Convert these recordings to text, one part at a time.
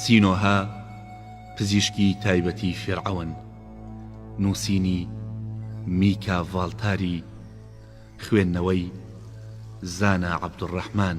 سینۆهە، پزیشکی تایبەتی فیرعەون. نووسینی، میکا ڤاڵتاری. خوێندنەوەی، زانا عەبدولڕەحمان.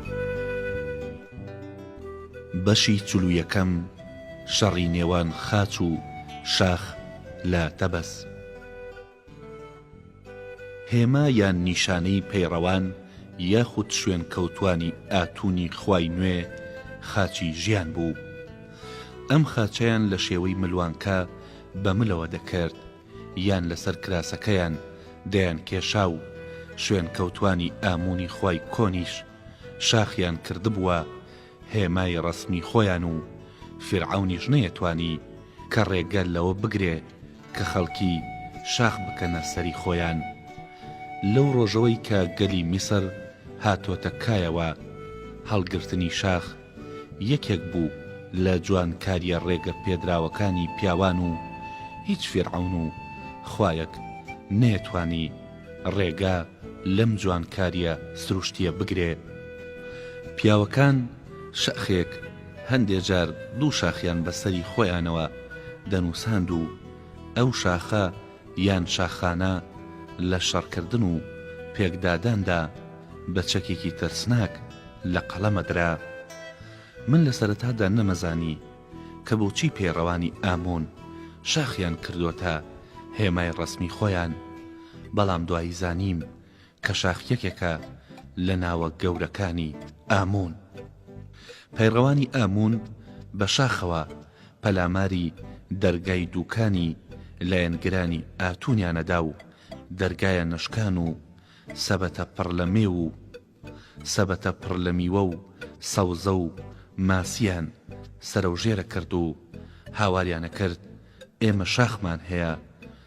بەشی چل و یەکەم شەڕی نێوان خاچ و شاخ لە تەبەس. هێما یان نیشانەی پەیڕەوان یاخود شوێنکەوتوانی ئاتونی خوای نوێ خاچی ژیان بوو. ئەم خاچەیان لە شێوەی ملوانکە بە ملەوە دەکرد. یان لەسەر کراسەکەیان دەیانکێشا و شوێنکەوتوانی ئاموونی خوای کۆنیش شاخیان کردبووە هێمای ڕەسمی خۆیان و فیرعەونیش نەیەتوانی کە ڕێگە لەوە بگرێ کە خەڵکی شاخ بکەنە سەری خۆیان لەو ڕۆژەوەی کە گەلی میسر هاتۆتە کایەوە هەڵگرتنی شاخ یەکێک بوو لە جوانکاریە ڕێگە پێدراوەکانی پیاوان و هیچ فیرعەون و خوایەک نەیەتوانی ڕێگە لەم جوانکاریە سروشتیە بگرێ پیاوەکان شئخێک هەندێ جار دوو شاخیان بەسەری خۆیانەوە دەنوساند و ئەو شاخە یان شاخانە لە شەڕکردن و پێکداداندا بە چەکێکی ترسناک لە قەڵەمە درا. من لە سەرەتادا نەمەزانی کە بۆچی پەیڕەوانی ئامون شاخیان کردۆتە هێمای ڕەسمی خۆیان، بەڵام دوایی زانیم کەشاخ یەکێکە لە ناوە گەورەکانی ئاموون. پەیڕەوانی ئاموون بە شاخەوە پەلاماری دەرگای دووکانی لایەنگرانی ئاتوونیان ئەدا و دەرگایە نەشکان و سەبەتە پڕ لە مێو و سەبەتە پڕ لە میوە و سەوزە و ماسییان سەرەوژێرە کرد و هاواریان ئەکرد ئێمە شاخمان هەیە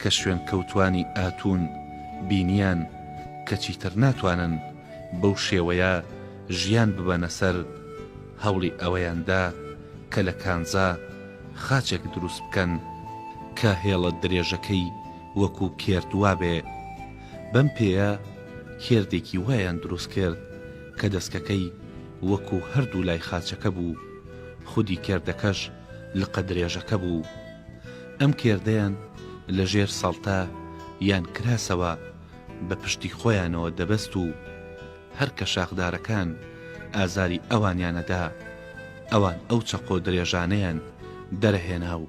کە شوێنکەوتوانی ئاتون بینیان کە چیتر ناتوانن بەو شێوەیە ژیان ببەنە سەر، هەوڵی ئەوەیان دا کە لە کانزا خاچێک دروست بکەن، کە هێڵە درێژەکەی وەکو کێرد وابێ، بەم پێیە کێردێکی وایان دروست کرد کە دەسکەکەی وەکو هەردوو لای خاچەکە بوو، خودی کێردەکەش لقە درێژەکە بوو. ئەم کێردەیان لە ژێر سەڵتە یان کراسەوە بە پشتی خۆیانەوە دەبەست و هەر کە شاخدارەکان ئازاری ئەوانیانەدا، ئەوان ئەو چەقۆ درێژانەیان دەرەهێنا و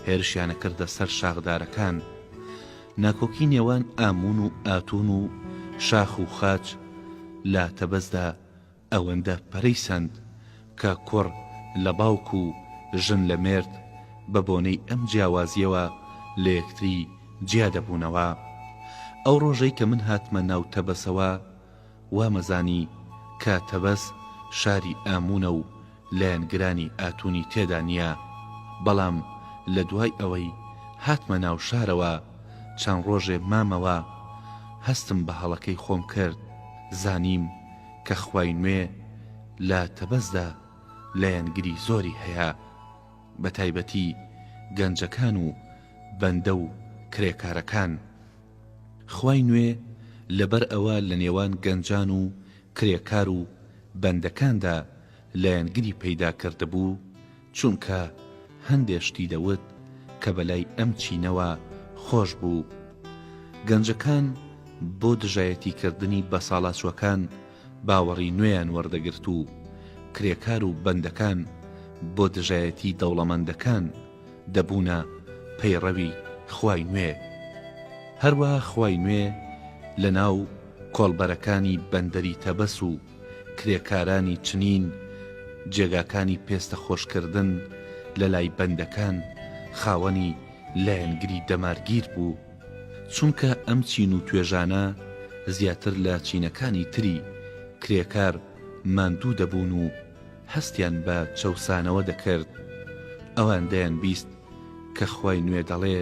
هێرشیان ئەکردە سەر شاخدارەکان. ناکۆکی نێوان ئاموون و ئاتوون و شاخ و خاچ لە تەبەزدا ئەوەندە پەرەی سەند کە کوڕ لە باوک و ژن لە مێرد بە بۆنەی ئەم جیاوازییەوە لە یەکتری جیا دەبوونەوە. ئەو ڕۆژەی کە من هاتمە ناو تەبەسەوە وامەزانی کە تەبەس شاری ئاموونە و لایەنگرانی ئاتونی تێدا نییە، بەڵام لە دوای ئەوەی هاتمە ناو شارەوە چەند ڕۆژێ مامەوە هەستم بە هەڵەکەی خۆم کرد زانیم کە خوای نوێ لە تەبەزدا لایەنگری زۆری هەیە بە تایبەتی گەنجەکان و بەندە و کرێکارەکان خوای نوێ لەبەر ئەوە لە نێوان گەنجان و کرێکار و بەندەکاندا لایەنگری پەیدا کردبوو، چونکە هەندێ شتی دەوت کە بەلای ئەم چینەوە خۆش بوو. گەنجەکان بۆ دژایەتی کردنی بەساڵاچووەکان باوەڕی نوێیان وەردەگرت و کرێکار و بەندەکان بۆ دژایەتی دەوڵەمەندەکان، دەبوونە پەیڕەوی خوای نوێ هەروا خوای نوێ لەناو کۆڵبەرەکانی بەندەری تەبەس و کرێکارانی چنین جێگاکانی پێستە خۆشکردن لەلای بەندەکان خاوەنی لایەنگری دەمارگیر بوو چونکە ئەم چین و توێژانە زیاتر لە چینەکانی تری کرێکار ماندوو دەبوون و هەستیان بە چەوسانەوە دەکرد، ئەوان دەیانبیست کە خوای نوێ دەڵێ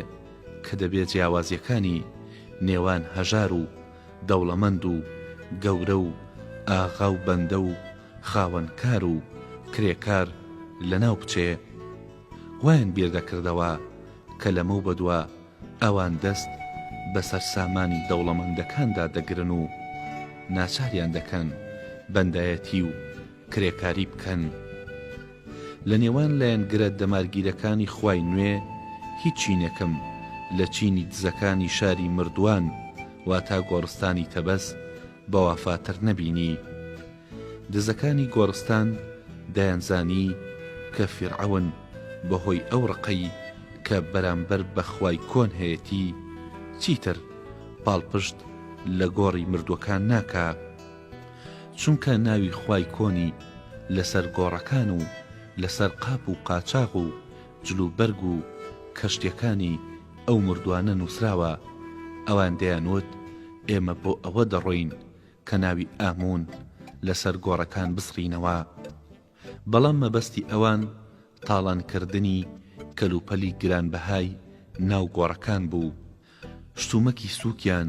کە دەبێ جیاوازیەکانی نێوان هەژار و دەوڵەمەند و گەورە و ئاغا و بەندە و خاوەن کار و کرێکار لەناو بچێ. وایان بیر دەکردەوە کە لەمەو بەدوا ئەوان دەست بە سەرسامانی دەوڵەمەندەکاندا دەگرن و ناچاریان دەکەن بەندایەتی و کرێکاری بکەن لە نێوان لایەنگرە دەمارگیرەکانی خوای نوێ هیچ چینێکم لە چینی دزەکانی شاری مردوان واتا گۆڕستانی تەبەس بەوافاتر نەبینی دزەکانی گۆڕستان دەیانزانی کە فیرعەون بەهۆی ئەو ڕقەی کە بەرامبەر بە خوای کۆن هەیەتی چیتر پاڵپشت لە گۆڕی مردوەکان ناکا. چونکە ناوی خوای کۆنی لەسەر گۆڕەکان و لەسەر قاپ و قاچاغ و جلوبەرگ و کەشتیەکانی ئەو مردوانە نوسراوە، ئەوان دەیانوت ئێمە بۆ ئەوە دەڕۆین کە ناوی ئامون لەسەر گۆڕەکان بسڕینەوە. بەڵام مەبەستی ئەوان تاڵانکردنی کەلوپەلی گرانبەهای ناو گۆڕەکان بوو. شتومەکی سوکیان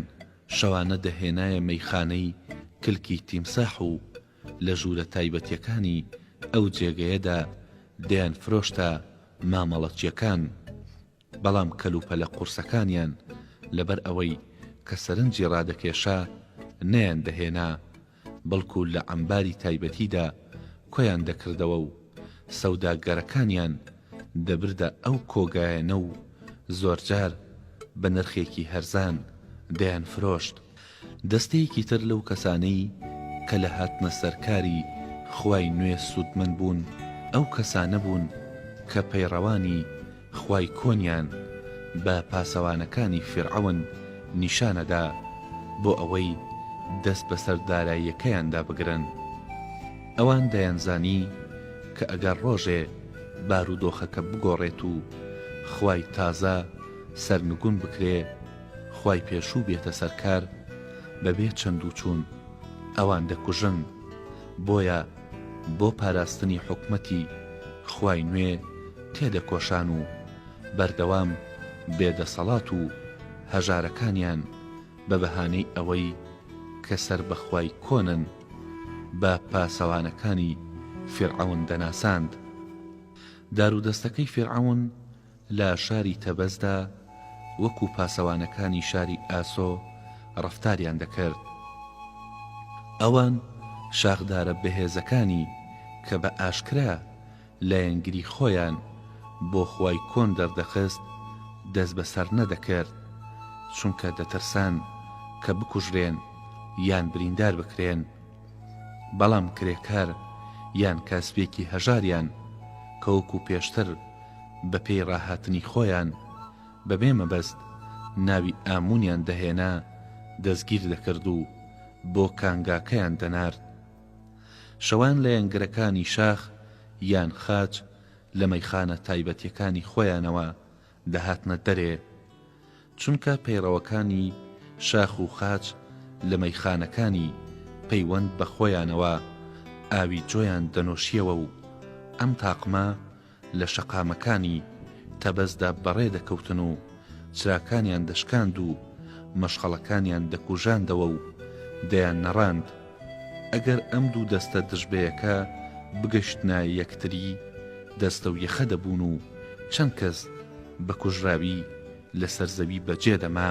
شەوانە دەهێنایە مەیخانەی کلکی تیمساح و لە ژوورە تایبەتیەکانی ئەو جێگەیەدا دەیانفرۆشتە مامەڵەچیەکان، بەڵام کەلوپەلە قورسەکانیان لەبەر ئەوەی کە سەرنجی ڕادەکێشا نەیاندەهێنا بەڵکو لە عەمباری تایبەتیدا کۆیان دەکردەوە و سەوداگەرەکانیان دەبردە ئەو کۆگایەنە و زۆرجار بە نرخێکی هەرزان دەیانفرۆشت. دەستەیەکی تر لەو کەسانەی کە لە هاتنە سەر کاری خوای نوێ سوودمەند بوون، ئەو کەسانە بوون کە پەیڕەوانی خوای کۆنیان بە پاسەوانەکانی فیرعەون نیشانەدا بۆ ئەوەی دەست بەسەر داراییەکەیاندا بگرن. ئەوان دەیانزانی کە ئەگەر ڕۆژێ بارودۆخەکە بگۆڕێت و خوای تازە سەرنگون بکرێ، خوای پێشوو بێتە سەرکار، بەبێ چەندوچوون ئەوان دەکوژن، بۆیە، بۆ پاراستنی حکومەتی خوای نوێ تێدەکۆشان و بەردەوام بێ دەسەڵات و هەژارەکانیان بە بەهانەی ئەوەی کە سەر بە خوای کۆنن بە پاسەوانەکانی فیرعەون دەناساند. دارودەستەکەی فیرعەون لە شاری تەبەزدا وەکو پاسەوانەکانی شاری ئاسۆ ڕەفتاریان دەکرد. ئەوان شاخدارە بەهێزەکانی کە بە ئاشکرا لایەنگری خۆیان بۆ خوای کۆن دەردەخست دەستبەسەر نەدەکرد، چونکە دەترسان کە بکوژرێن یان بریندار بکرێن. بەڵام کرێکار یان کاسبێکی هەژاریان کە وەکو پێشتر بە پێی ڕاهاتنی خۆیان بە بێ مەبەست ناوی ئامونیان دەهێنا دەستگیر دەکرد و بۆ کانگاکەیان دەنارد. شەوان لە یەنگرەکانی شاخ یان خاچ لە مەیخانە تایبەتیەکانی خۆیانەوە دەهاتنە دەرێ، چونکە پەیڕەوەکانی شاخ و خاچ لە مەیخانەکانی پەیوەند بە خۆیانەوە ئاوی جۆیان دەنۆشییەوە و ئەم تاقمە لە شەقامەکانی تەبەزدا بەڕێ دەکەوتن و چراکانیان دەشکاند و مەشخەڵەکانیان دەکوژاندەوە و دەیاننەڕاند. ئەگەر ئەم دوو دەستە دژبەیەکە بگەشتنە یەکتری دەستەو یەخە دەبوون و چەند کەس بە کوژراوی لەسەر زەوی بە جێ دەما.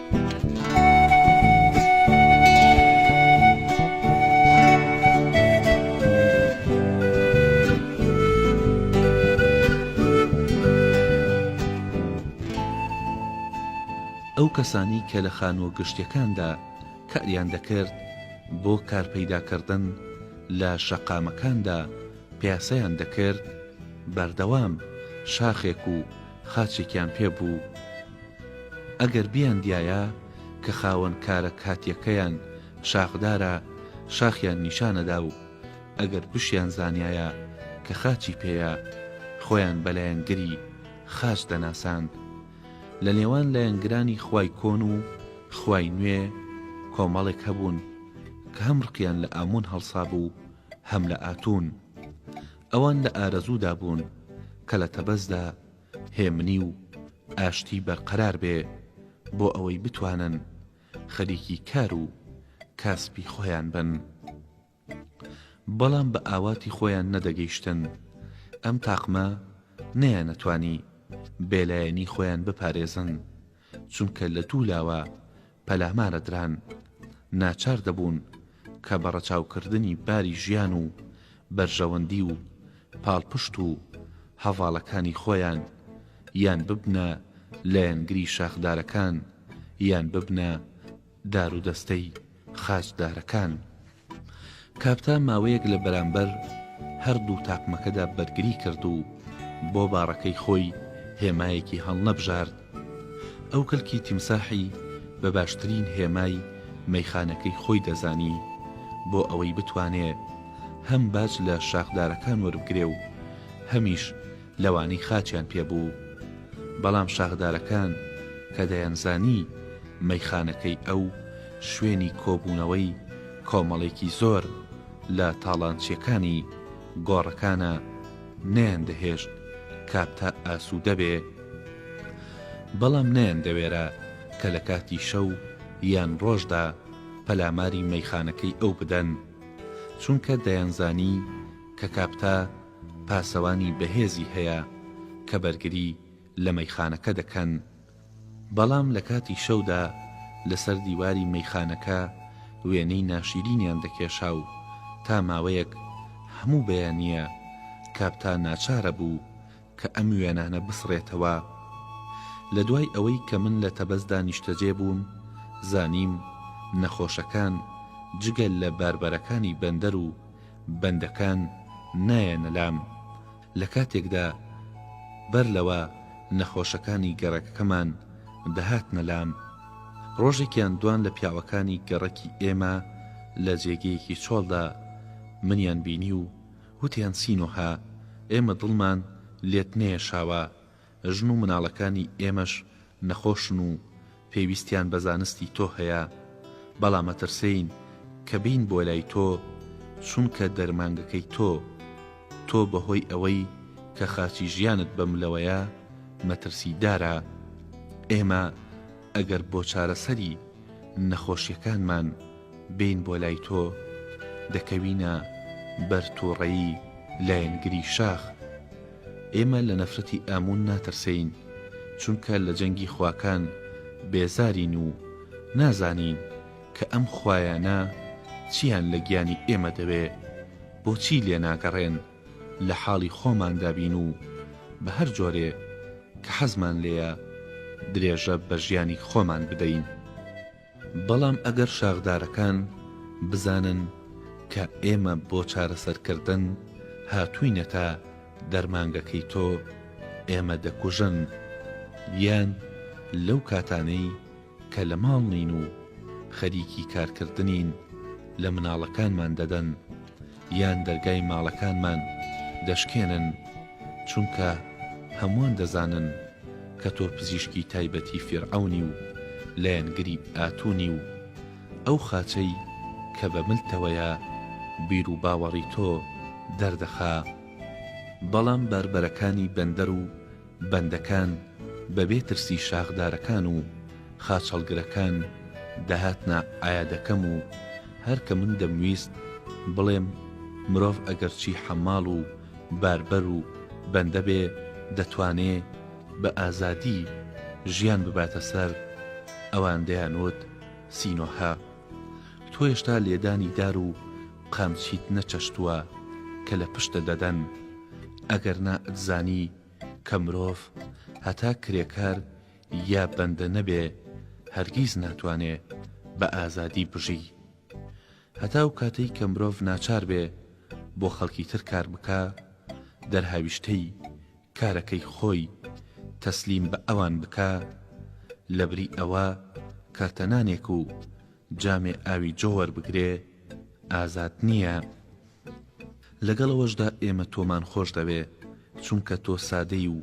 ئەو کەسانی کە لە خانووە گشتیەکاندا کاریان دەکرد بۆ کارپەیداکردن لە شەقامەکاندا پیاسەیان دەکرد بەردەوام شاخێک و خاچێکیان پێ بوو، ئەگەر بیاندیایە کە خاوەن کارە کاتیەکەیان شاخدارە شاخیان نیشانەدا و ئەگەر بشیان زانیایە کە خاچی پێیە خۆیان بە لایەنگری خاچ دەناساند لە نێوان لایەنگرانی خوای کۆن و خوای نوێ کۆمەڵێک هەبوون کە هەم ڕقیان لە ئامون هەڵسابوو هەم لە ئاتون ئەوان لە ئارەزوودا بوون کە لە تەبەزدا هێمنی و ئاشتی بەرقەرار بێ بۆ ئەوەی بتوانن خەریکی کار و کاسپی خۆیان بن بەڵام بە ئاواتی خۆیان نەدەگەیشتن ئەم تاقمە نەیانەتوانی بێلایەنی خۆیان بپارێزن چونکە لە دوو لاوە پەلامارە دران، ناچار دەبوون کە بە ڕەچاوکردنی باری ژیان و بەرژەوەندی و پاڵپشت و هەڤاڵەکانی خۆیان یان ببنە لایەنگری شاخدارەکان یان ببنە دارودەستەی خاچدارەکان. کاپتا ماوەیەک لە بەرامبەر هەردوو تاقمەکەدا بەرگری کرد و بۆ باڕەکەی خۆی هێمایەکی هەڵنەبژارد. ئەو کەلکی تیمساحی بە باشترین هێمای مەیخانەکەی خۆی دەزانی بۆ ئەوەی بتوانێ هەم باج لە شاخدارەکان وەربگرێ و هەمیش لەوانەی خاچیان پێ بوو، بەڵام شاخدارەکان کە دەیانزانی مەیخانەکەی ئەو شوێنی کۆبوونەوەی کۆمەڵێکی زۆر لە تاڵانچییەکانی گۆڕەکانە، نەیاندەهێشت کاپتا ئاسوودە بێ، بەڵام نەیاندەوێرا کە لە کاتی شەو یان ڕۆژدا پەلاماری مەیخانەکەی ئەو بدەن، چونکە دەیانزانی کە کاپتا. پاسەوانی بەهێزی هەیە کە بەرگری لە مەیخانەکە دەکەن، بەڵام لە کاتی شەودا لەسەر دیواری مەیخانەکە وێنەی ناشیرینیان دەکێشا و تا ماوەیەک هەموو بەیانییە کاپتا ناچارە بوو کە ئەم وێنانە بسڕێتەوە. لە دوای ئەوەی کە من لە تەبەزدا نیشتەجێ بووم، زانیم نەخۆشەکان جگە لە باربەرەکانی بەندەر و بەندەکان نایەنە لام لەکاتێکدا بەر لەوە نەخۆشەکانی گەڕەکەکەمان دەهاتنە لام، ڕۆژێکیان دوان لە پیاوەکانی گەڕەکی ئێمە لە جێگەیەکی چۆڵدا منیان بینی و وتیان سینۆها ئێمە دڵمان لێت نەیەشاوە، ژن و مناڵەکانی ئێمەش نەخۆشن و پێویستیان بە زانستی تۆ هەیە، بەڵام مەترسێین کە بین بۆ لای تۆ چونکە دەرمانگەکەی تۆ تۆ بە هۆی ئەوەی کە خاچی ژیانت بە ملەوەیە مەترسی دارە ئێمە ئەگەر بۆ چارەسەری نەخۆشیەکانمان بین بۆ لای تۆ دەکەوینە بەر توڕەیی لایەنگری شاخ ئێمە لە نەفرەتی ئامون ناترسێین، چونکە لە جەنگی خواکان بێزارین و نازانین کە ئەم خوایانە چییان لە گیانی ئێمە دەوێ، بۆچی لێناگەڕێن لە حاڵی خۆماندا بین و بە هەر جۆرێ کە حەزمان لێیە درێژە بە ژیانی خۆمان بدەین. بەڵام ئەگەر شاخدارەکان بزانن کە ئێمە بۆ چارەسەرکردن هاتووینەتە دەرمانگەکەی تۆ، ئێمە دەکوژن، یان لەو کاتانەی کە لە ماڵ نین و خەریکی کارکردنین لە مناڵەکانمان دەدەن، یان دەرگای ماڵەکانمان دەشکێنن، چونکە هەمووان دەزانن کە تۆ پزیشکی تایبەتی فیرعەونی و لایەنگری ئاتونی و ئەو خاچەی کە بە ملتەوەیە بیروباوەڕی تۆ دەردەخا، بەڵام باربەرەکانی بەندەر و بەندەکان بە بێ ترسی شاخدارەکان و خاچەڵگرەکان دەهاتنە عەیادەکەم و هەر کە من دەمویست بڵێم مرۆڤ ئەگەرچی حەماڵ و باربەر و بەندە بێ دەتوانێ بە ئازادی ژیان بباتە سەر ئەوان دەیانوت سینۆهە تۆ هێشتا لێدانی دار و قامچیت نەچەشتوە کە لە پشتە دەدەن ئەگەر نا ئەتزانی کە مرۆڤ هەتا کرێکار یا بەندە نەبێ هەرگیز ناتوانێ بە ئازادی بژی هەتا ئەو کاتەی کە مرۆڤ ناچار بێ بۆ خەڵکی تر کار بکا دەرهاویشتەی کارەکەی خۆی تەسلیم بە ئەوان بکا لەبری ئەوە کەرتە نانێک و جامێ ئاوی جۆ وەربگرێ ئازاد نییە لەگەڵ ئەوەشدا ئێمە تۆمان خۆش دەوێ چونکە تۆ سادەی و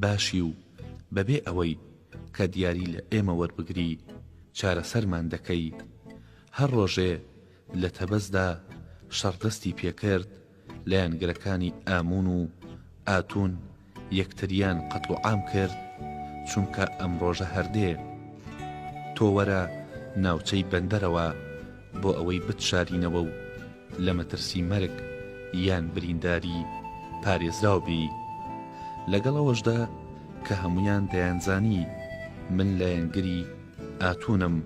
باشی و بەبێ ئەوەی کە دیاری لە ئێمە وەربگری چارەسەرمان دەکەی هەر ڕۆژێ لە تەبەزدا شەڕ دەستی پێکرد لایەنگرەکانی ئاموون و ئاتوون یەکتریان قەتڵ و عام کرد چونکە ئەم ڕۆژە هەر دێ تۆ وەرە ناوچەی بەندەرەوە بۆ ئەوەی بتشارینەوە و لە مەترسی مەرگ یان برینداری پارێزراو بی لەگەڵ ئەوەشدا کە هەموویان دەیانزانی من لایەنگری ئاتوونم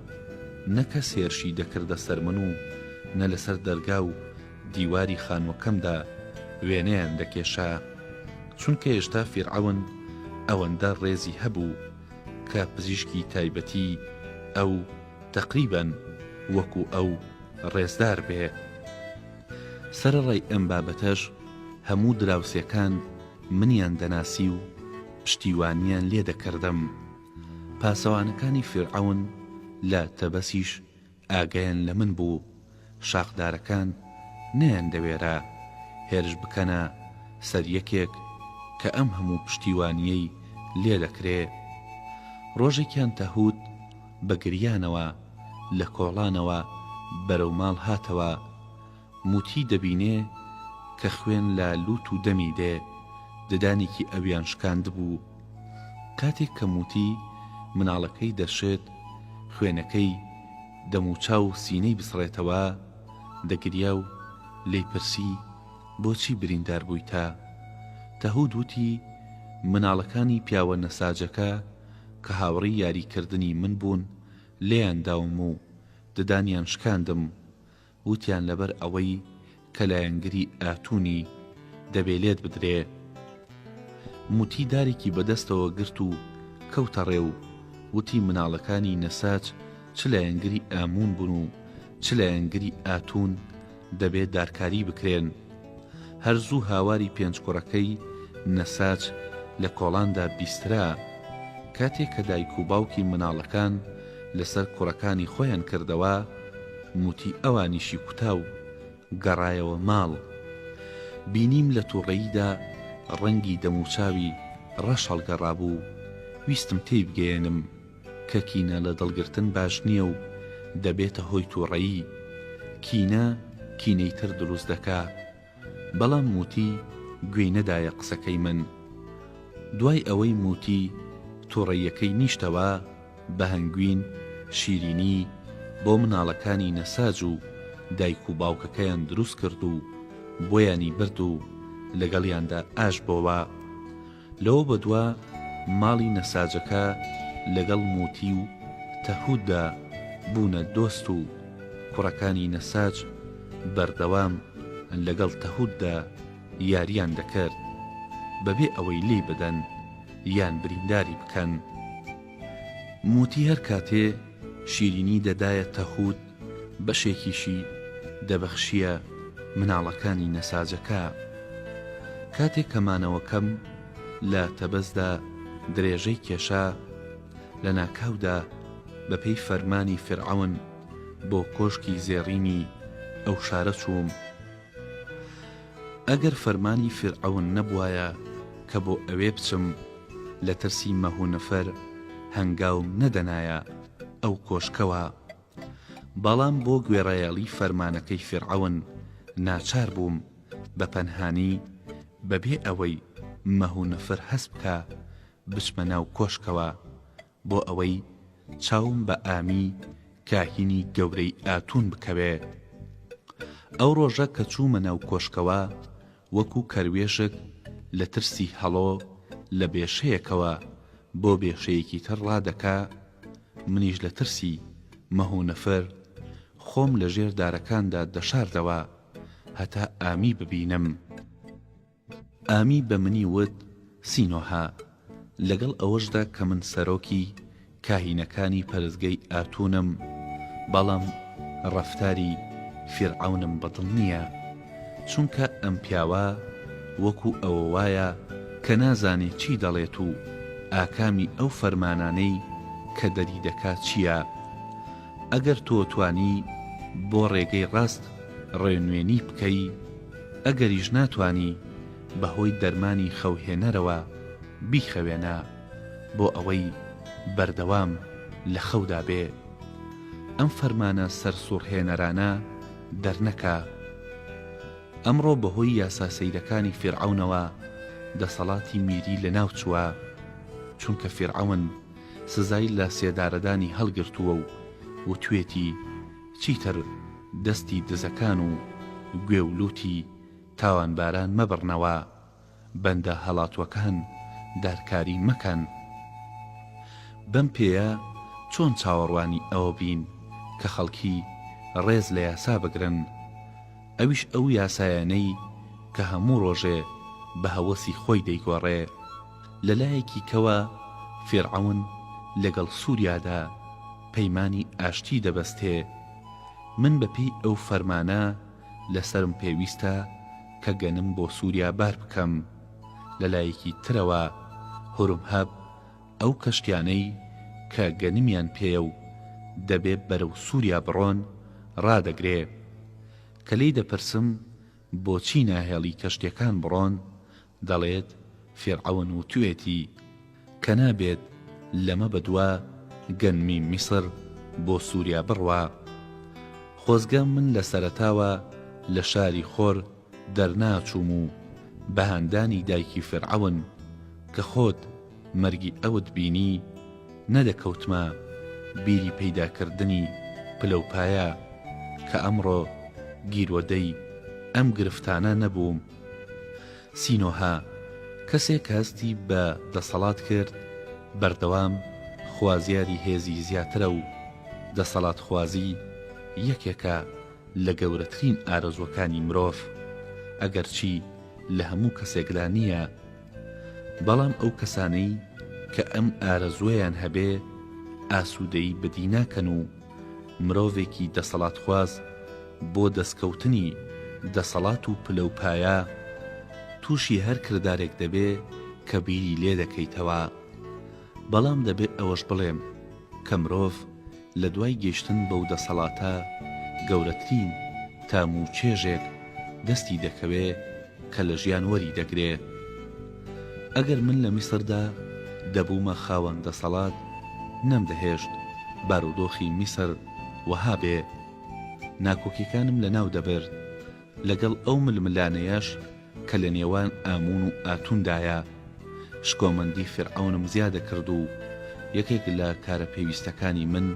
نە کەس هێرشی دەکردە سەر من و نە لەسەر دەرگا و دیواری خانوەکەمدا وێنەیان دەکێشا چونکە هێشتا فیرعەون ئەوەندە ڕێزی هەبوو کە پزیشکی تایبەتی ئەو تەقریبەن وەکو ئەو ڕێزدار بێ. سەرەڕای ئەم بابەتەش هەموو دراوسێکان منیان دەناسی و پشتیوانیان لێ دەکردم. پاسەوانەکانی فیرعەون لە تەبەسیش ئاگایان لە من بوو شاخدارەکان نەیاندەوێرا هێرش بکەنە سەر یەکێک کە ئەم هەموو پشتیوانییەی لێ دەکرێ. ڕۆژێکیان تەهوت بە گریانەوە لە کۆڵانەوە بەرەو ماڵ هاتەوە. موتی دەبینێ کە خوێن لە لوت و دەمی دێ ددانێکی ئەویان شکاندبوو کاتێک کە موتی مناڵەکەی دەشێت خوێنەکەی دەموچاو سینەی بسڕێتەوە دەگریا و لێی پرسی بۆچی بریندار بوویتە تەهود وتی مناڵەکانی پیاوە نەساجەکە کە هاوڕی یاریکردنی من بوون لێیان داوم و ددانیان شکاندم وتیان لەبەر ئەوەی کە لایەنگری ئاتونی دەبێ لێت بدرێ. موتی دارێکی بە دەستەوە گرت و کەوتە ڕێ و وتی مناڵەکانی نەساج چ لایەنگری ئامون بون و چ لایەنگری ئاتون دەبێ دارکاری بکرێن. هەر زوو هاواری پێنج کوڕەکەی، نەساج، لە کۆڵاندا بیسترا. کاتێ کە دایک و باوکی مناڵەکان لە سەر کوڕەکانی خۆیان کردەوە، موتی ئەوانیشی کوتا و گەڕایەوە ماڵ. بینیم لە توڕەییدا ڕەنگی دەموچاوی ڕەش هەڵگەڕابوو، ویستم تێی بگەیەنم. کە کینە لە دڵگرتن باش نییە و دەبێتە هۆی تووڕەیی، کینە کینەی تر دروست دەکا. بەڵام موتی گوێی نەدایە قسەکەی من. دوای ئەوەی موتی تووڕەییەکەی نیشتەوە، بە هەنگوین شیرینی بۆ مناڵەکانی نەساج و دایک و باوکەکەیان دروست کرد و بۆیانی برد و لەگەڵیاندا ئاش بۆوە. لەوە بەدوا ماڵی نەساجەکە لەگەڵ موتی و تەهودا بوونە دۆست و کوڕەکانی نەساج بەردەوام لەگەڵ تەهودا یاریان دەکرد بەبێ ئەوەی لێی بدەن یان برینداری بکەن. موتی هەرکاتێ شیرینی دەدایە تەهود بەشێکیشی دەبەخشییە مناڵەکانی نەساجەکە. کاتێک کە مانەوەکەم لە تەبەزدا درێژەی کێشا، لە ناکاودا بە پێی فەرمانی فیرعەون بۆ کۆشکی زێڕینی ئەو شارە چووم. ئەگەر فەرمانی فیرعەون نەبوایە کە بۆ ئەوێ بچم، لە ترسی مەهونەفەر هەنگاوم نەدەنایە. ئەو کۆشکەوە، بەڵام بۆ گوێڕایەڵی فەرمانەکەی فیرعەون ناچار بووم بە پەنهانی بەبێ ئەوەی مەه و نفر هەست بکا بچمە ناو کۆشکەوە بۆ ئەوەی چاوم بە ئامی کاهینی گەورەی ئاتون بکەوێ. ئەو ڕۆژە کە چوومە ناو کۆشکەوە وەکو کەروێشک لە ترسی هەڵۆ لە بێشەیەکەوە بۆ بێشەیەکی تر ڕادەکا، منیش لە ترسی مه و نەفر خۆم لە ژێر دارەکاندا دەشاردەوە هەتا ئامی ببینم. ئامی بە منی وت، سینۆهە لەگەڵ ئەوەشدا کە من سەرۆکی کاهینەکانی پەرستگەی ئاتونم، بەڵام ڕەفتاری فیرعەونم بەدڵ نییە، چونکە ئەم پیاوە وەکو ئەوە وایە کە نازانێ چی دەڵێت و ئاکامی ئەو فەرمانانەی کە دەری دەکا چییە. ئەگەر تۆ توانی بۆ ڕێگەی ڕاست ڕێنوێنی بکەی، ئەگەریش ناتوانی بەهۆی دەرمانی خەوهێنەرەوە بیخەوێنە بۆ ئەوەی بەردەوام لە خەودا بێ ئەم فەرمانە سەرسوڕهێنەرانە دەرنەکا. ئەمڕۆ بەهۆی یاسا سەیرەکانی فیرعەونەوە دەسەڵاتی میری لەناوچووە، چونکە فیرعەون سزای لەسێدارەدانی هەڵگرتووە و وتوێتی چیتر دەستی دزەکان و گوێ و لوتی تاوانباران مەبڕنەوە بەندە هەڵاتووەکان دارکاری مەکەن. بەم پێیە چۆن چاوەڕوانی ئەوە بین کە خەڵکی ڕێز لە یاسا بگرن؟ ئەویش ئەو یاسایانەی کە هەموو ڕۆژێ بە هەوەسی خۆی دەیگۆڕێ. لە لایەکی کەوە فیرعەون لەگەڵ سوریادا پەیمانی ئاشتی دەبەستێ. من بە پێی ئەو فەرمانە، لەسەرم پێویستە کە گەنم بۆ سوریا بار بکەم. لەلایەکی ترەوە هورمهب ئەو کەشتیانەی کە گەنمیان پێیە و دەبێ بەرەو سوریا بڕۆن ڕادەگرێ. کە لێی دەپرسم بۆچی ناهێڵی کەشتیەکان بڕۆن دەڵێت، فیرعەون وتوێتی، کە نابێت لەمە بەدوا گەنمی میسر بۆ سوریا بڕوا. خۆزگە من لە سەرەتاوە لە شاری خۆر دەرناچووم و بە هاندانی دایکی فیرعەون، کە خۆت مەرگی ئەوت بینی، نەدەکەوتمە بیری پەیداکردنی پلەوپایە، کە ئەمڕۆ گیرۆدەی ئەم گرفتانە نەبووم. سینۆهە، کەسێک هەستی بە دەسەڵات کرد بەردەوام خوازیاری هێزی زیاترە و دەسەڵاتخوازی یەکێکە لە گەورەترین ئارەزووەکانی مرۆڤ، ئەگەرچی لە هەموو کەسێکدا نییە، بەڵام ئەو کەسانەی کە ئەم ئارەزووەیان هەبێ ئاسوودەیی بەدی ناکەن و، مرۆڤێکی دەسەڵاتخواز بۆ دەستکەوتنی دەسەڵات و پلە و پایە تووشی هەر کردارێک دەبێ کە بیری لێ دەکەیتەوە. بەڵام دەبێ ئەوەش بڵێم کە مرۆڤ لە دوای گەیشتن بەو دەسەڵاتە گەورەترین تام و چێژێک دەستی دەکەوێ کە لە ژیان وەری دەگرێ. ئەگەر من لە میسردا دەبوومە خاوەن دەسەڵات نەمدەهێشت بارودۆخی میسر وەها بێ، ناکۆکیەکانم لەناو دەبرد لەگەڵ ئەو ململانێیەش کە لە نێوان ئامون و ئاتوندایە شکۆمەندی فیرعەونم زیادەکرد و یەکێک لە کارە پێویستەکانی من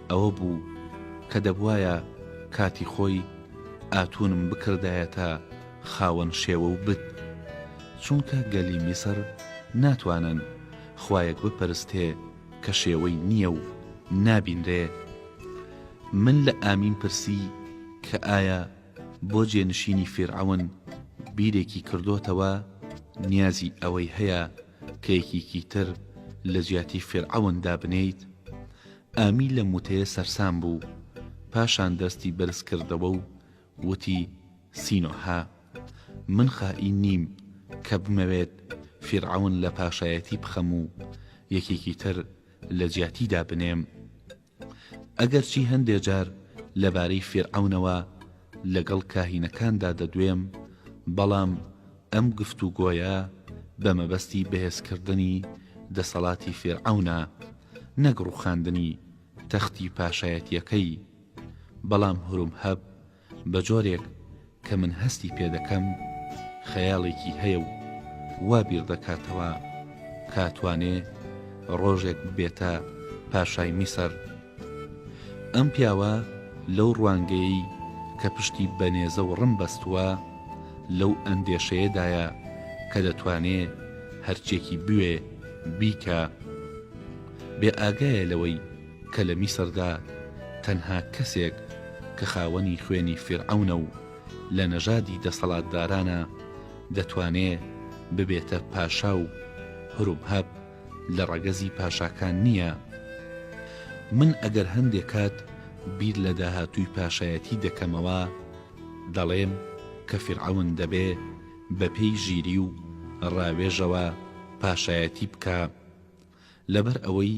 ئەوە بوو کە دەبوایە کاتی خۆی ئاتونم بکردایەتە خاوەن شێوە و بت چونکە گەلی میسر ناتوانن خوایەک بپەرستێ کە شێوەی نییە و نابینرێ من لە ئامیم پرسی کە ئایا بۆ جێنشینی فیرعەون بیرێکی کردۆتەوە نیازی ئەوەی هەیە کە یەکیکی تر لە جیاتی فیرعەون دابنێیت ئامی لەم وتەیە سەرسام بوو پاشان دەستی بەرزکردەوە و وتی، سینۆهە، من خائین نیم کە بمەوێت فیرعەون لە پاشایەتی بخەم و یەکێکی تر لە جیاتی دابنێم. ئەگەرچی هەندێ جار لەبارەی فیرعەونەوە لەگەڵ کاهینەکاندا دەدوێم، بەڵام ئەم گفتوگۆیە بە مەبەستی بەهێزکردنی دەسەڵاتی فیرعەونە، نەک ڕووخاندنی تەختی پاشایەتییەکەی. بەڵام هروم هەب بە جۆرێک کە من هەستی پێ دەکەم خەیاڵێکی هەیە و وا بیر دەکاتەوە کا توانێ ڕۆژێک ببێتە پاشای میسر. ئەم پیاوە لەو ڕوانگەیەی کە پشتی بە نێزە و ڕم بەستووە لەو ئەندێشەیە دایە کە دەتوانێ هەرچیەکی بوێ بیکا. بێ ئاگایە لەوەی کە لە میسردا تەنها کەسێک کە خاوەنی خوێنی فیرعەونە و لە نەژادی دەسەڵاتدارانە دەتوانێ ببێتە پاشا و هرومهەب لە ڕەگەزی پاشاکان نییە. من ئەگەر هەندێ کات بیر لە داهاتووی پاشایەتی دەکەمەوە دەڵێم کە فیرعەون دەبێ بەپێی ژیری و ڕاوێژەوە پاشایەتی بکا، لەبەر ئەوەی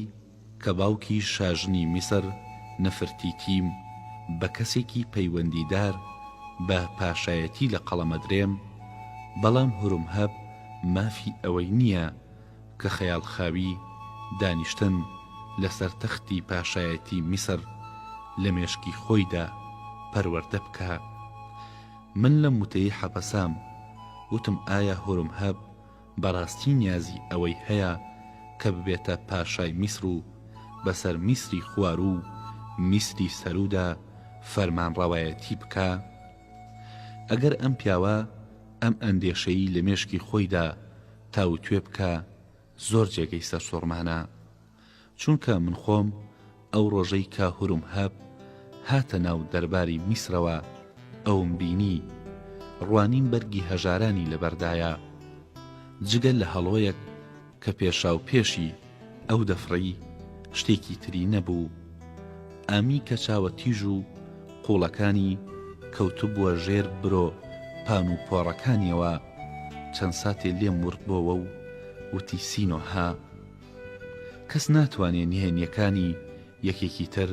کە باوکی شاژنی میسر نفرتیتیم بە کەسێکی پەیوەندیدار بە پاشایەتی لە قەڵەمەدرێم، بەڵام هورمهەب مافی ئەوەی نییە کە خەیاڵخاوی دانیشتن لەسەر تەختی پاشایەتی میسر لە مێشکی خۆیدا پەروەردە بکا. من لەم وتەی حەپەسام وتم ئایا هورمهەب بەڕاستی نیازی ئەوەی هەیە کە ببێتە پاشای میسر و بەسەر میسری خواروو و میسری سەروودا فەرمانڕەوایەتی بکا؟ ئەگەر ئەم پیاوە ئەم ئەندێشەیی لە مێشکی خۆیدا تاووتوێ بکا، زۆر جێگەی سەرسووڕمانە. چونکە من خۆم ئەو ڕۆژەی کە هورومهەب هاتە ناو دەرباری میسرەوە ئەوم بینی، ڕوانیم بەرگی هەژارانی لەبەردایە، جگە لە هەڵۆیەک کە پێشاوپێشی ئەو دەفڕی، شتێکی تری نەبوو. ئامی کە چاوە تیژ و قووڵەکانی کەوتبووە ژێر برۆ پان و پۆڕەکانیەوە، چەند ساتێ لێم وڕدبۆوە و وتی سینۆهە، کەس ناتوانێ نهێنیەکانی یەکێکی تر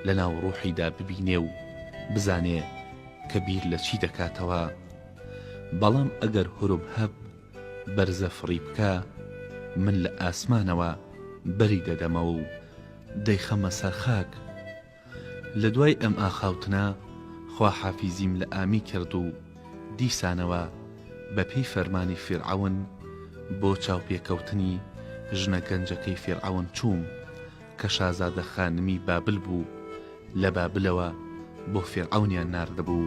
لە ناو ڕوحیدا ببینێ و بزانێ کە بیر لە چی دەکاتەوە بەڵام ئەگەر هرب هب بەرزە فڕی بکا من لە ئاسمانەوە بەری دەدەمەوە و دەیخەمە سەر خاک لە دوای ئەم ئاخاوتنە خواحافیزیم لە ئامی کرد و دیسانەوە بە پێی فەرمانی فیرعەون بۆ چاوپێکەوتنی ژنە گەنجەکەی فیرعەون چووم کە شازادە خانمی بابل بوو، لە بابلەوە بۆ فیرعەونیان ناردبوو.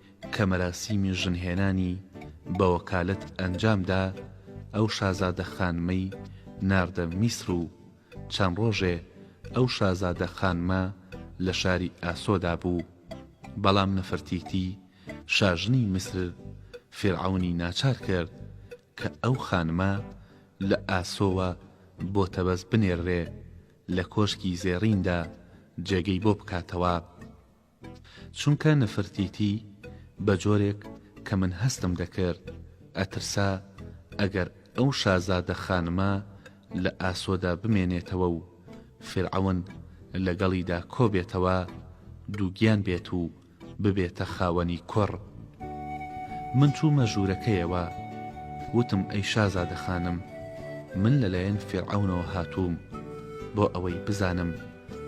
کە مەراسیمی ژنهێنانی بە وەکالەت ئەنجام دا، ئەو شازادە خانمەی ناردە میسر و چەند ڕۆژێ ئەو شازادە خانمە لە شاری ئاسۆدا بوو، بەڵام نەفرتیتی شاژنی میسر فیرعەونی ناچار کرد کە ئەو خانمە لە ئاسۆوە بۆ تەبەس بنێررێ لە کۆشکی زێڕیندا جێگەی بۆ بکاتەوە. چونکە نفرتیتی بە جۆرێک کە من هەستم دەکرد ئەترسا ئەگەر ئەو شازادە خانمە لە ئاسۆدا بمێنێتەوە و فیرعەون لەگەڵیدا کۆبێتەوە دووگیان بێت و ببێتە خاوەنی کوڕ من چوومە ژوورەکەیەوە وتم ئەی شازادە خانم من لەلایەن فیرعەونەوە هاتووم بۆ ئەوەی بزانم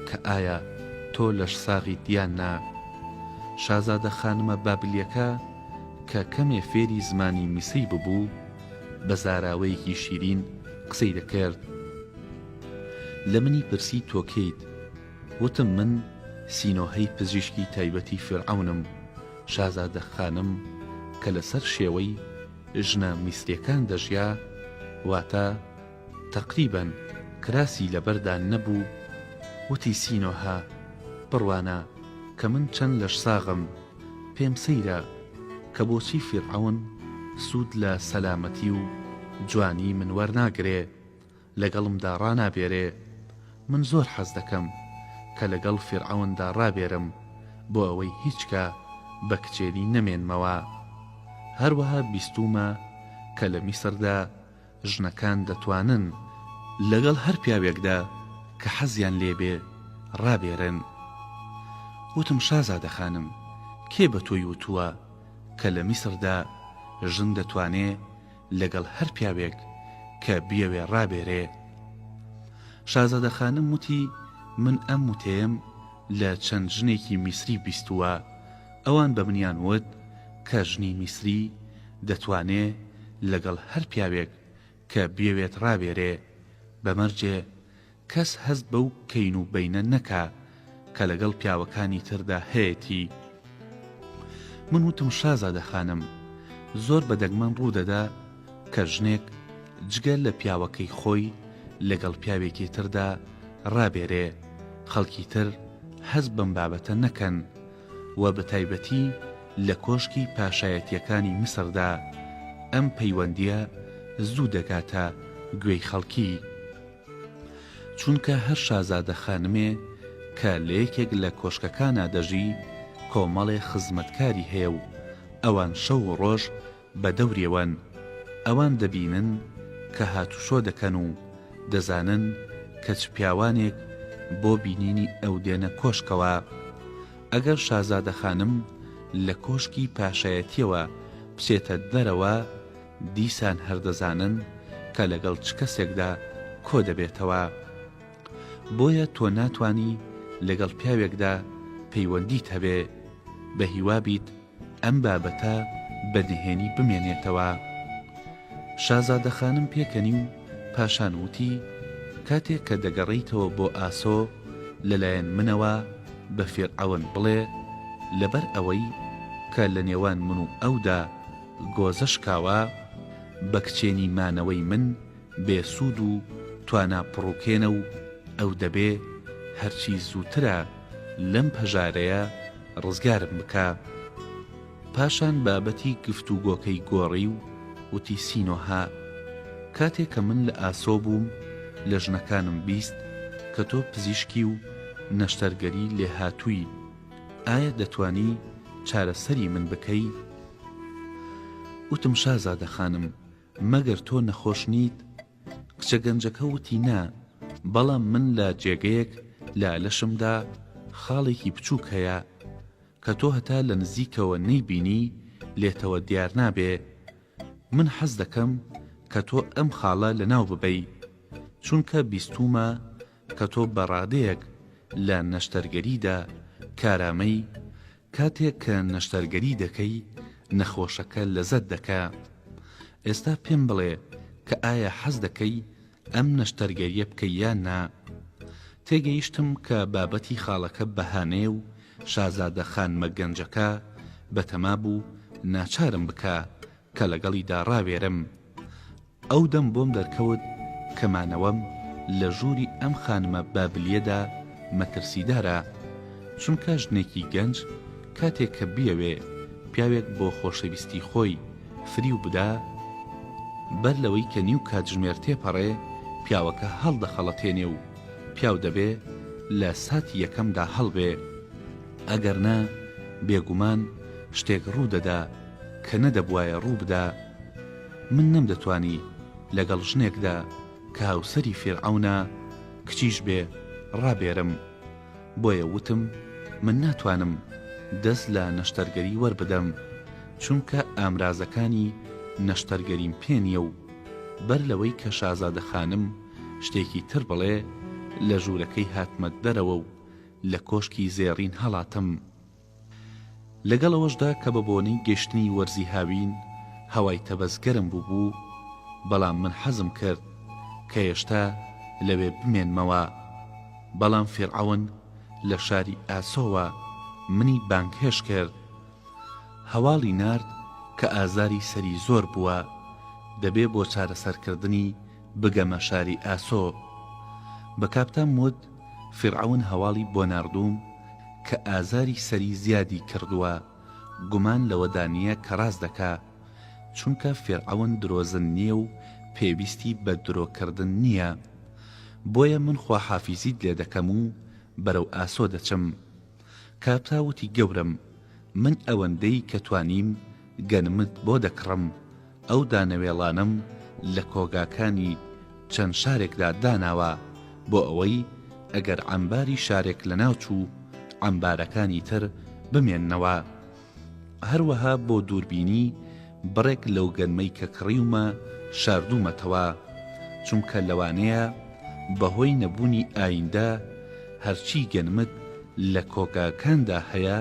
کە ئایا تۆ لەشساغیت یان نا. شازادە خانمە بابلیەکە کە کەمێ فێری زمانی میسری ببوو، بە زاراوەیەکی شیرین قسەی دەکرد. لە منی پرسی تۆ کێیت؟ وتم من سینۆهەی پزیشکی تایبەتی فیرعەونم. شازادە خانم کە لەسەر شێوەی ژنە میسریەکان دەژیا، واتە، تەقریبەن کراسی لەبەردا نەبوو وتی سینۆهە بڕوانە کە من چەند لەشساغم پێم سەیرە کە بۆچی فیرعەون سوود لە سەلامەتی و جوانی من وەرناگرێ لەگەڵمدا ڕانابێرێ من زۆر حەز دەکەم کە لەگەڵ فیرعەوندا ڕابێرم بۆ ئەوەی هیچکا بە کچێنی نەمێنمەوە هەروەها بیستوومە کە لە میسردا ژنەکان دەتوانن لەگەڵ هەر پیاوێکدا کە حەزیان لێ بێ ڕابێرن. وتم شازادە خانم کێ بە تۆی وتووە کە لە میسردا ژن دەتوانێ لەگەڵ هەر پیاوێک کە بیەوێ ڕابێرێ؟ شازادە خانم وتی من ئەم وتەیەم لە چەند ژنێکی میسری بیستووە، ئەوان بە منیان وت کە ژنی میسری دەتوانێ لەگەڵ هەر پیاوێک کە بیەوێت ڕابێرێ، بە مەرجێ کەس هەست بەو کەین و بەینە نەکا کە لەگەڵ پیاوەکانی تردا هەیەتی. من وتم شازادە خانم، زۆر بە دەگمەن ڕوو دەدا کە ژنێک جگە لە پیاوەکەی خۆی لەگەڵ پیاوێکی تردا ڕابێرێ، خەڵکی تر هەست بەم بابەتە نەکەن، و بە تایبەتی لە کۆشکی پاشایەتییەکانی میسردا، ئەم پەیوەندییە زوو دەگاتە گوێی خەڵکی. چونکە هەر شازادە خانمێ کە لە یەکێک لە کۆشکەکانا دەژی، کۆمەڵێ خزمەتکاری هەیە و ئەوان شەو و ڕۆژ بە دەوریەوەن، ئەوان دەبینن کە هاتوچۆ دەکەن و دەزانن کە چ پیاوانێک بۆ بینینی ئەو دێنە کۆشکەوە. ئەگەر شازادە خانم لە کۆشکی پاشایەتییەوە بچێتە دەرەوە، دیسان هەر دەزانن کە لەگەڵ چ کەسێکدا کۆ دەبێتەوە. بۆیە تۆ ناتوانی لەگەڵ پیاوێکدا پەیوەندیت هەبێ. بە هیوا بیت. ئەم بابەتە بە نهێنی بمێنێتەوە. شازادەخانم پێکەنی و پاشان وتی، کاتێک کە دەگەڕێیتەوە بۆ ئاسۆ، لەلایەن منەوە بە فیرعەون بڵێ، لەبەر ئەوەی کە لە نێوان من و ئەودا گۆزە شکاوە، بە کچێنی مانەوەی من بێ سوود و توانا پڕوکێنە و ئەو دەبێ هەرچی زووترە لەم پەژارەیە ڕزگارم بکا. پاشان بابەتی گفتوگۆکەی گۆڕی و وتی سینۆهە، کاتێ کە من لە ئاسۆ بووم لە ژنەکانم بیست کە تۆ پزیشکی و نەشتەرگەری لێهاتووی، ئایا دەتوانی چارەسەری من بکەی؟ وتم شازادە خانم، مەگەر تۆ نەخۆش نیت؟ کچە گەنجەکە وتی نا، بەڵام من لە جێگەیەک لە لەشمدا خاڵێکی بچووک هەیە، کە تۆ هەتا لە نزیکەوە نەیبینی لێتەوە دیار نابێ. من حەز دەکەم کە تۆ ئەم خاڵە لەناو ببەی، چونکە بیستوومە کە تۆ بە ڕادەیەک لە نەشتەرگەریدا کارامەی، کاتێک کە نەشتەرگەری دەکەی نەخۆشەکە لەزەت دەکا ئێستا پێم بڵێ کە ئایا حەز دەکەی ئەم نەشتەرگەریە بکەی یان نا تێگەیشتم کە بابەتی خاڵەکە بەهانەیە و شازادە خانمە گەنجەکە بەتەما بوو ناچارم بکا کە لەگەڵیدا ڕاوێرم، ئەو دەم بۆم دەرکەوت کە مانەوەم لە ژووری ئەم خانمە بابلییەدا مەترسیدارە، چونکە ژنێکی گەنج کاتێک کە بیەوێ پیاوێک بۆ خۆشەویستی خۆی فریو بدا، بەر لەوەی کە نیو کاتژمێر تێپەڕێ، پیاوەکە هەڵدەخەڵەتێنێ و پیاو دەبێ لە ساتی یەکەمدا هەڵبێ. ئەگەرنا بێگومان شتێک ڕوو دەدا. کە نەدەبوایە ڕوو بدا من نەمدەتوانی لەگەڵ ژنێکدا کە هاوسەری فیرعەونە کچیش بێ ڕابێرم بۆیە وتم من ناتوانم دەست لە نەشتەرگەری وەربدەم چونکە ئامرازەکانی نەشتەرگەریم پێ نیە و بەر لەوەی کە شازادە خانم شتێکی تر بڵێ لە ژوورەکەی هاتمە دەرەوە و لە کۆشکی زێڕین هەڵاتم. لەگەڵ ئەوەشدا کە بە بۆنەی گەشتنی وەرزی هاوین هەوای تەبەز گەرم بووبوو، بەڵام من حەزم کرد کە هێشتا لەوێ بمێنمەوە. بەڵام فیرعەون لە شاری ئاسۆوە منی بانگهێشت کرد. هەواڵی نارد کە ئازاری سەری زۆر بووە، دەبێ بۆ چارەسەرکردنی بگەمە شاری ئاسۆ. بە کاپتام وت، فیرعەون هەواڵی بۆ ناردووم کە ئازاری سەری زیادی کردووە، گومان لەوەدا نییە کە ڕاست دەکا، چونکە فیرعەون درۆزن نییە و پێویستی بە درۆ کردن نییە. بۆیە من خواحافیزیت لێ دەکەم و بەرەو ئاسۆ دەچم. کابرا وتی گەورەم من ئەوەندەی کە توانیم گەنمت بۆ دەکڕم، ئەو دانەوێڵانەم لە کۆگاکانی چەند شارێکدا داناوە بۆ ئەوەی ئەگەر عەمباری شارێک لەناوچوو، عەمبارەکانی تر بمێننەوە. هەروەها بۆ دووربینی بڕێک لەو گەنمەی کە کڕیومە شاردوومەتەوە، چونکە لەوانەیە بەهۆی نەبوونی ئایندە هەرچی گەنمت لە کۆگاکاندا هەیە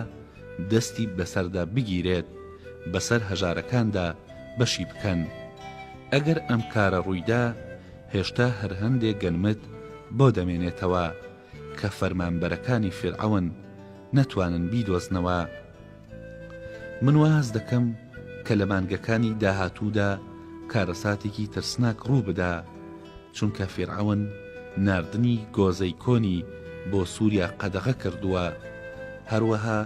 دەستی بەسەردا بگیرێت بەسەر هەژارەکاندا بەشی بکەن. ئەگەر ئەم کارە ڕوویدا هێشتا هەر هەندێ گەنمت بۆ دەمێنێتەوە کە فەرمانبەرەکانی فیرعەون نەتوانن بیدۆزنەوە من واز دەکەم کە لە مانگەکانی داهاتوودا کارەساتێکی ترسناک ڕووبدا چونکە فیرعەون ناردنی گۆزەی کۆنی بۆ سووریا قەدەغە کردووە هەروەها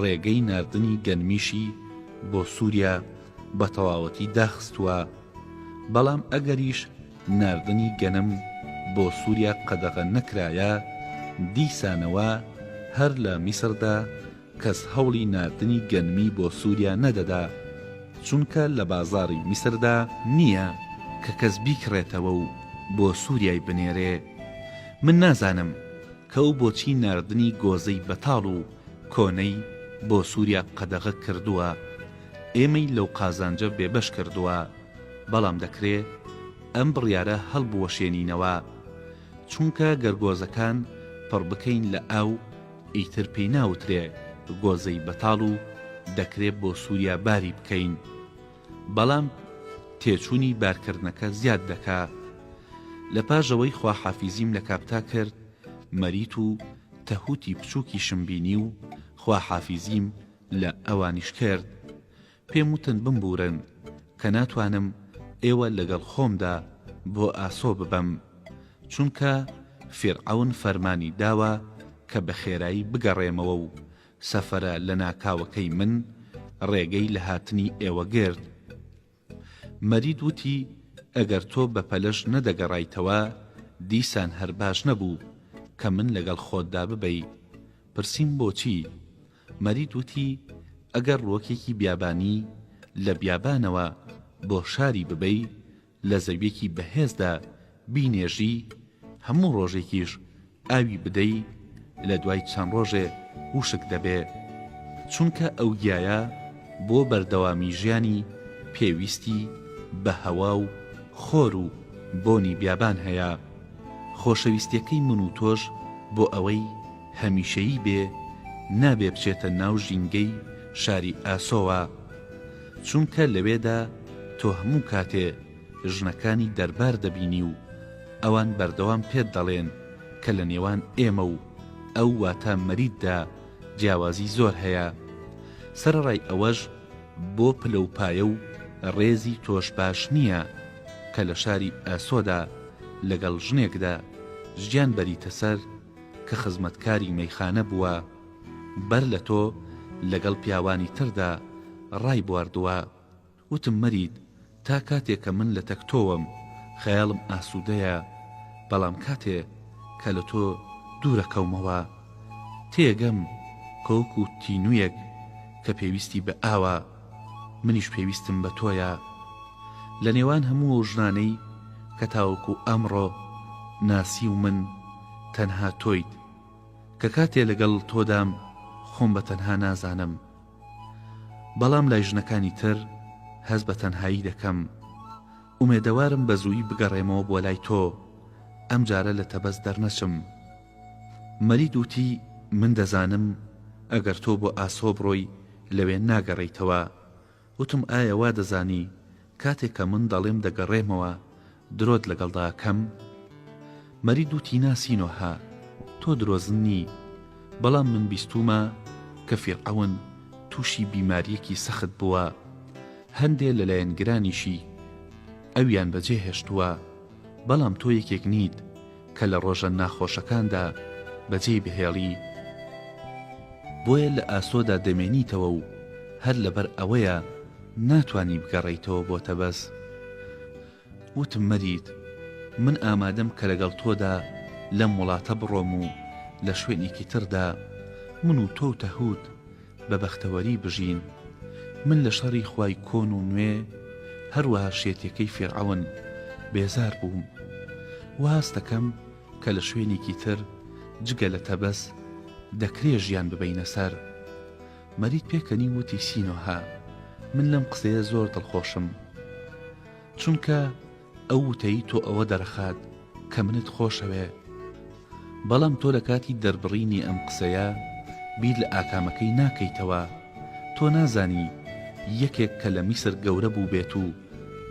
ڕێگەی ناردنی گەنمیشی بۆ سووریا بە تەواوەتی داخستووە بەڵام ئەگەریش ناردنی گەنم بۆ سوریا قەدەغە نەکرایە، دیسانەوە هەر لە میسردا کەس هەوڵی ناردنی گەنمی بۆ سوریا نەدەدا، چونکە لە بازاڕی میسردا، نییە کە کەس بیکڕێتەوە و بۆ سوریای بنێرێ، من نازانم کە ئەو بۆچی ناردنی گۆزەی بەتاڵ و کۆنەی بۆ سوریا قەدەغە کردووە، ئێمەی لەو قازانجە بێبەش کردووە. بەڵام دەکرێ ئەم بڕیارە هەڵبوەشێنینەوە چونکە گەر گۆزەکان پڕ بکەین لە ئاو ئیتر پێی ناوترێ گۆزەی بەتاڵ و دەکرێ بۆ سوریا باری بکەین بەڵام تێچونی بارکردنەکە زیاد دەکا لە پاش ئەوەی خواحافیزیم لە کاپتا کرد مەریت و تەهوتی بچوکیشم بینی و خواحافیزیم لە ئەوانیش کرد پێم وتن بمبوورن کە ناتوانم ئێوە لەگەڵ خۆمدا بۆ ئاسۆ ببەم، چونکە فیرعەون فەرمانی داوە کە بە خێرایی بگەڕێمەوە و سەفرە لەناکاوەکەی من ڕێگەی لە هاتنی ئێوە گرت. مەرید وتی، ئەگەر تۆ بە پەلەش نەدەگەڕایتەوە، دیسان هەر باش نەبوو کە من لەگەڵ خۆتدا ببەی. پرسیم بۆچی؟ مەرید وتی، ئەگەر ڕووەکێکی بیابانی لە بیابانەوە بۆ شاری ببەی، لە زەوییەکی بەهێزدا بینێژی، هەموو ڕۆژێکیش ئاوی بدەی، لە دوای چەند ڕۆژێ وشک دەبێ. چونکە ئەو گیایە بۆ بەردەوامی ژیانی پێویستی بە هەوا و خۆر و بۆنی بیابان هەیە. خۆشەویستییەکەی من و تۆش بۆ ئەوەی، هەمیشەیی بێ نابێ بچێتە ناو ژینگەی شاری ئاسۆوە چونکە لەوێدا تۆ هەموو کاتێ ژنەکانی دەربار دەبینی و ئەوان بەردەوام پێت دەڵێن کە لە نێوان ئێمە و ئەو واتە مەریددا جیاوازی زۆر هەیە سەرەڕای ئەوەش بۆ پلە و پایە و ڕێزی تۆش باش نییە کە لە شاری ئاسۆدا لەگەڵ ژنێکدا ژیان بەریتە سەر کە خزمەتکاری مەیخانە بووە، بەر لە تۆ لەگەڵ پیاوانی تردا ڕایبواردووە. وتم مەرید تا کاتێ کە من لە تەک تۆوەم، خەیاڵم ئاسوودەیە، بەڵام کاتێ کە لە تۆ دوورەکەومەوە، تێگەم کە وەکوو تینوویەک کە پێویستی بە ئاوە. منیش پێویستم بە تۆیە لە نێوان هەموو ئەو ژنانەی کە تاوەکو ئەمڕۆ ناسیومن تەنها تۆیت کە کاتێ لەگەڵ تۆدام خۆم بە تەنها نازانم بەڵام لای ژنەکانی تر هەست بە تەنهایی دەکەم ئومێدەوارم بە زووی بگەڕێمەوە بۆ لای تۆ ئەمجارە لە تەبەس دەرنەچم. مەلید وتی، من دەزانم ئەگەر تۆ بۆ ئاسۆ بڕۆی لەوێ ناگەڕێیتەوە. وتم، ئایا وا دەزانی کاتێک کە من دەڵێم دەگەڕێمەوە درۆت لەگەڵدا ئەکەم؟ مەلید وتی، نا سینۆهە، تۆ درۆزن نی، بەڵام من بیستوومە کە فیرعەون تووشی بیمارییەکی سەخت بووە، هەندێ لە لایەنگرانیشی ئەویان بەجێهێشتووە، بەڵام تۆ یەکێک نیت، کە لە ڕۆژە ناخۆشەکاندا بەجێی بهێڵی، بۆیە لە ئاسۆدا دەمێنیتەوە و هەر لەبەر ئەوەیە ناتوانی بگەڕێیتەوە بۆ تەبەز. وتم مەریت، من ئامادەم کە لەگەڵ تۆدا لەم وڵاتە بڕۆم و لە شوێنێکی تردا، من و تۆ و تەهوت، بە بەختەوەری بژین من لە شەڕی خوای کۆن و نوێ هەروەها شێتەکەی فیرعەون بێزار بووم و هەست دەکەم کە لە شوێنێکی تر جگە لە تەبەس دەکرێ ژیان ببەینە سەر مەرید پێکەنی وتی سینۆهە من لەم قسەیە زۆر دڵخۆشم چونکە ئەو وتەی تۆ ئەوە دەرخات کە منت خۆشەوێ بەڵام تۆ لەکاتی دەربڕینی ئەم قسەیە بیر لە ئاکامەکەی ناکەیتەوە تۆ نازانی یەکێک کە لە میسر گەورە بووبێت و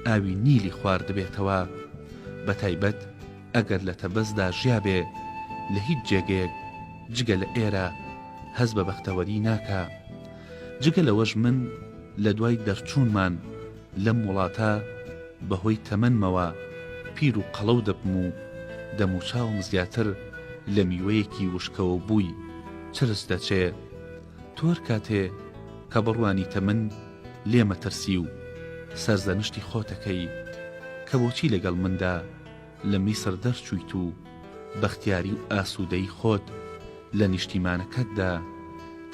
ئاوی نیلی خواردبێتەوە بەتایبەت ئەگەر لە تەبەزدا ژیابێ لە هیچ جێگەیەک جگە لە ئێرە هەست بە بەختەوەری ناکا جگە لەوەش من لە دوای دەرچوونمان لەم وڵاتە بە هۆی تەمەنمەوە پیر و قەڵەو دەبم و دەموچاوم زیاتر لە میوەیەکی وشکەوە بووی چرچ دەچێ. تۆ هەر کاتێ کە بڕوانیتە من لێ مەترسی و سەرزەنشتی خۆتەکەی کە بۆچی لەگەڵ مندا لە میسر دەرچوویت و بەختیاری و ئاسوودەیی خۆت لە نیشتیمانەکەتدا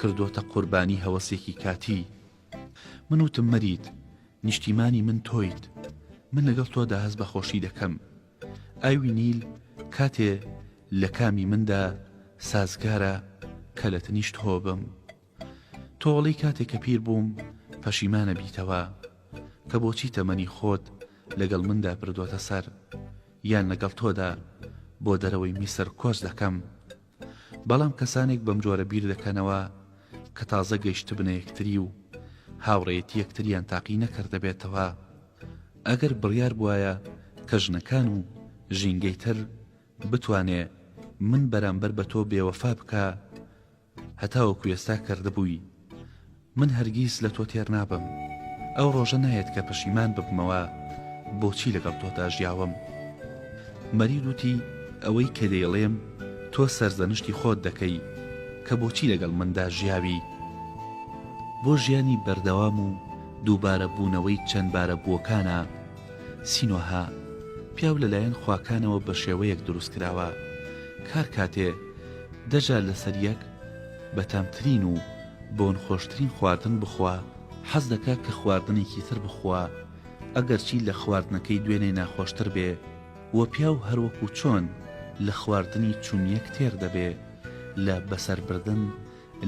کردۆتە قوربانی هەوەسێکی کاتی. من وتم مەریت، نیشتیمانی من تۆیت، من لەگەڵ تۆدا هەست بە خۆشی دەکەم. ئاوی نیل کاتێ لە کامی مندا سازگارە کە لە تنیشت هۆ بم. تۆڵی کاتێ کە پیر بووم پەشیمانە بیتەوە کە بۆچی تەمەنی خۆت لەگەڵ مندا بردۆتە سەر یان لەگەڵ تۆدا بۆ دەرەوەی میسر کۆچ دەکەم بەڵام کەسانێک بەم جۆرە بیر دەکەنەوە کە تازە گەیشتبنە یەکتری و هاوڕێیەتی یەکتریان تاقی نەکردبێتەوە ئەگەر بڕیار بوایە کە ژنەکان و ژینگەی تر بتوانێ من بەرامبەر بە تۆ بێوەفا بکە هەتاوەکو ئێستا کردبووی من هەرگیز لە تۆ تێر نابم. ئەو ڕۆژە نایەت کە پەشیمان ببمەوە بۆچی لەگەڵ تۆدا ژیاوم. مەرید وتی، ئەوەی کە دەیڵێم تۆ سەرزەنشتی خۆت دەکەی کە بۆچی لەگەڵ مندا ژیاوی. بۆ ژیانی بەردەوام و دووبارە بوونەوەی چەند بارە بووەکانە. سینۆها، پیاو لەلایەن خواکانەوە بە شێوەیەک دروست کراوە. کار کاتێ، دەجار لەسەر یەک، بەتامترین و. بۆن خۆشترین خواردن بخوا حەز دەکا کە خواردنێکی تر بخوا ئەگەرچی لە خواردنەکەی دوێنێ ناخۆشتر بێ وە پیاو هەروەکو چۆن لە خواردنی چونیەک تێر دەبێ لە بەسەر بردن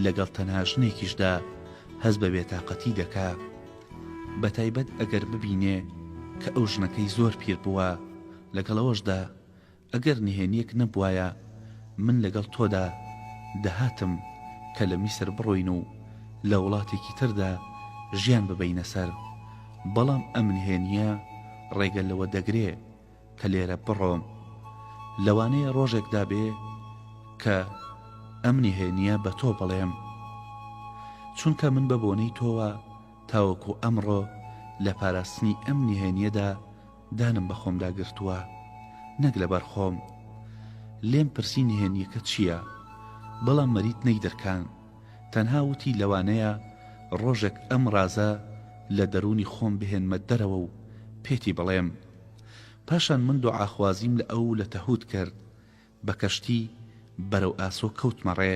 لەگەڵ تەنها ژنێکیشدا هەست بە بێتاقەتی دەکا بە تایبەت ئەگەر ببینێ کە ئەو ژنەکەی زۆر پیر بووە لەگەڵ ئەوەشدا ئەگەر نهێنیەک نەبوایە من لەگەڵ تۆدا دەهاتم کە لە میسر بڕۆین و لە وڵاتێکی تردا ژیان ببەینە سەر، بەڵام ئەم نهێنیە ڕێگە لەوە دەگرێ کە لێرە بڕۆم. لەوانەیە ڕۆژێکدا بێ کە ئەم نهێنیە بە تۆ بڵێم. چونکە من بە بۆنەی تۆوە تاوەکو ئەمڕۆ لە پاراستنی ئەم نهێنیەدا دانم بە خۆمدا گرتووە نەک لەبەر خۆم. لێم پرسی نهێنییەکە چییە، بەڵام مەریت نەیدرکاند، تەنها وتی لەوانەیە ڕۆژێک ئەم ڕازە لە دەروونی خۆم بهێنمە دەرەوە و پێتی بڵێم. پاشان من دوعاخوازیم لە ئەو و لە تەهوت کرد، بە کەشتی بەرەو ئاسۆ کەوتمە ڕێ.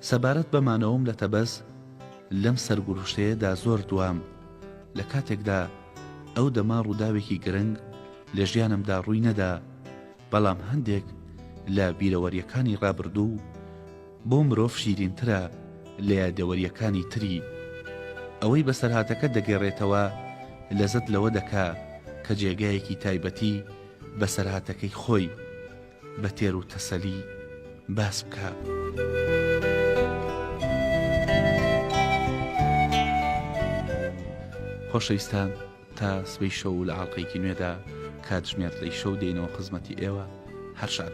سەبارەت بە مانەوەم لە تەبەز، لەم سەرگوروشتەیەدا زۆر دوام، لە کاتێکدا ئەو دەمە ڕووداوێکی گرنگ لە ژیانمدا ڕووی نەدا، بەڵام هەندێک لە بیرەوەرییەکانی ڕابردوو بۆ مرۆڤ شیرینترە لە یادەوەرییەکانی تری. ئەوەی بەسەرهاتەکە دەگەڕێتەوە لەزەت لەوە دەکا کە جێگایەکی تایبەتی بەسەرهاتەکەی خۆی بە تێر و تەسەلی باس بکا. خۆشەویستان تا سبەی شەو و لە ئاڵقەیەکی نوێدا کاتژمێر لەی شەو دێینەوە خزمەتی ئێوە هەر شاد بن.